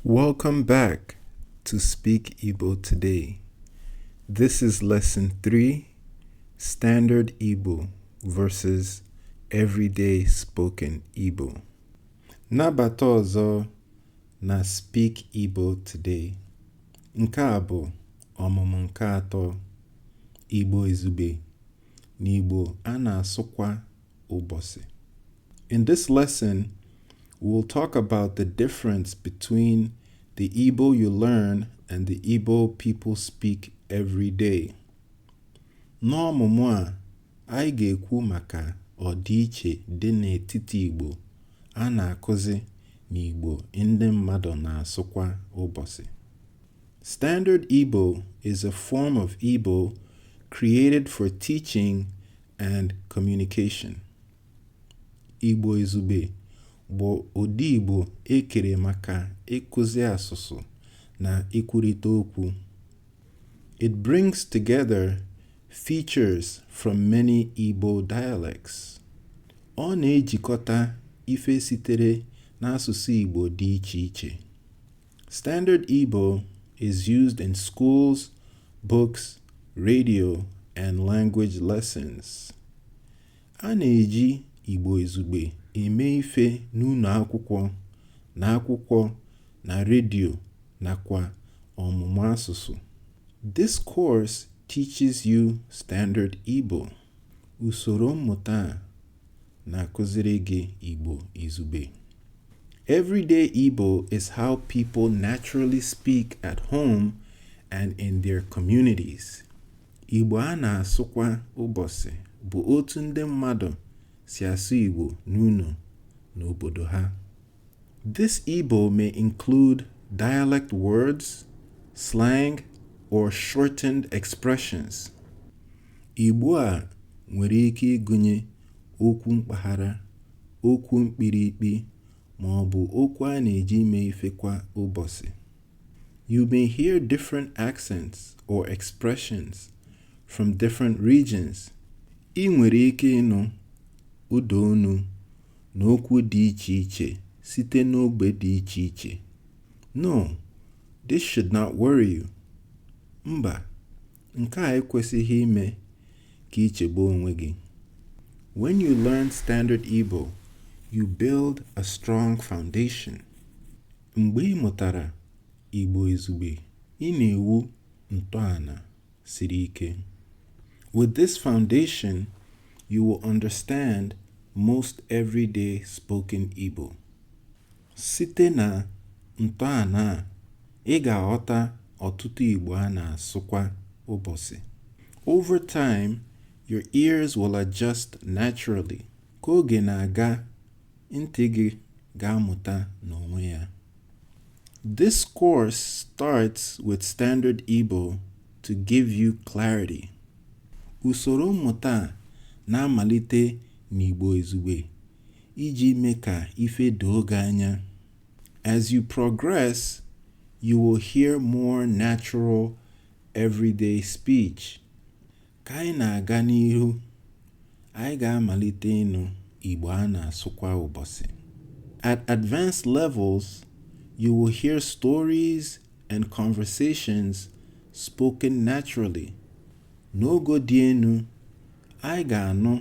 Welcome back to Speak Igbo Today. This is Lesson 3 Standard Igbo versus Everyday Spoken Igbo. Nabata ọzọ na Speak Igbo Today. Nke a bụ ọmụmụ nke atọ Igbo Izugbe na Igbo a na-asụ kwa ụbọsị. In this lesson, we'll talk about the difference between the Igbo you learn and the Igbo people speak every day. N'ọmụmụ a, anyị ga-ekwu maka ọdịiche dị n'etiti Igbo a na-akụzi na Igbo ndị mmadụ na-asụ kwa ụbọsị. Standard Igbo is a form of Igbo created for teaching and communication. Igbo Izugbe bụ ụdị Igbo e kere maka ịkụzi asụsụ na ikwurịta okwu. It brings together features from many Igbo dialects. Ọ na-ejikọta ife sitere n'asụsụ Igbo dị iche iche. Standard Igbo is used in schools, books, radio, and language lessons. A na-eji Igbo Izugbe eme ife n'ụnọ akwụkwọ, na akwụkwọ, na redio, nakwa ọmụmụ asụsụ. This course teaches you Standard Igbo. Usoro mmụta a na-akụziri gị Igbo izugbe. Everyday Igbo is how people naturally speak at home and in their communities. Igbo a na-asụ kwa ụbọsị bụ otu ndị mmadụ si asụ Igbo n'ụnọ na obodo ha. This Igbo may include dialect words, slang, or shortened expressions. Igbo a nwere ike ịgụnye okwu mpaghara, okwu mkpirikpi, ma ọ bụ okwu a na-eji eme ife kwa ụbọsị. You may hear different accents or expressions from different regions. Ị nwere ike ịnụ ụda onu na okwu dị iche iche site n'ogbe dị iche iche. No, this should not worry you. Mba, nke a ekwesịghị ime ka i chegbuo onwe gị. When you learn Standard Igbo, you build a strong foundation. Mgbe ị mụtara Igbo Izugbe, ị na-ewu ntọana. siri ike. With this foundation, you will understand most everyday spoken Igbo. Site na ntọana a, ị ga-aghọta ọtụtụ Igbo a na-asụ kwa ụbọsị. Over time, your ears will adjust naturally. Ka oge na-aga, Ntị gị ga-amụta n'onwe ya. This course starts with standard Igbo to give you clarity. Usoro mmụta a na-amalite n'Igbo izugbe iji mee ka ife doo gị anya. As you progress, you will hear more natural everyday speech. Ka anyị na-aga n'ihu, anyị ga-amalite ịnụ Igbo a na-asụ kwa ụbọsị. At advanced levels, you will hear stories and conversations spoken naturally. N'ogo dị enu, anyị ga-anụ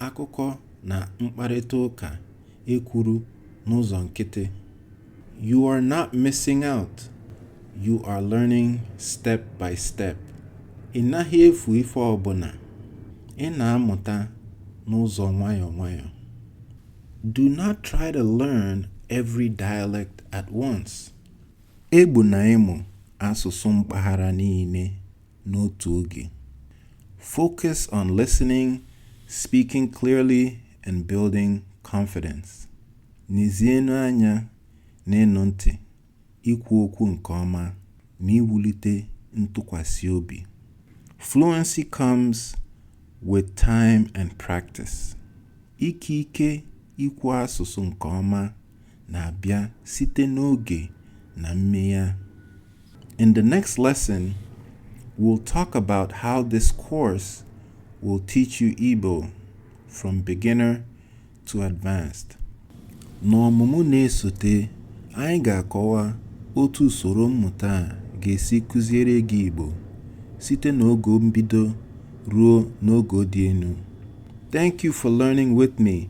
Akụkọ na mkparịta ụka e kwuru n'ụzọ nkịtị. You are not missing out, you are learning step by step. Ị naghị efu ife ọbụna, ị na-amụta n'ụzọ nwayọọ nwayọọ. Do not try to learn every dialect at once. Egbuna ịmụ asụsụ mpaghara niile. n'otu oge. Focus on listening, speaking clearly, and building confidence. Nezienụ anya n'ịnụ ntị, ikwu okwu nke ọma, na iwulite ntụkwasị obi. Fluency comes with time and practice. Ike ike ikwu asụsụ nke ọma na-abịa site n'oge na mmegha. In the next lesson, we'll talk about how this course will teach you Igbo from beginner to advanced. N'ọmụmụ na-esote, anyị ga-akọwa otu usoro mmụta a ga-esi kụziere gị Igbo site n'ogo mbido ruo n'ogo dị enu. Thank you for learning with me.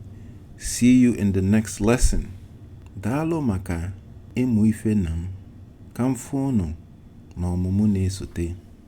See you in the next lesson. Daalụ maka ịmụ ife na m. Ka m fụ unu n'ọmụmụ na-esote.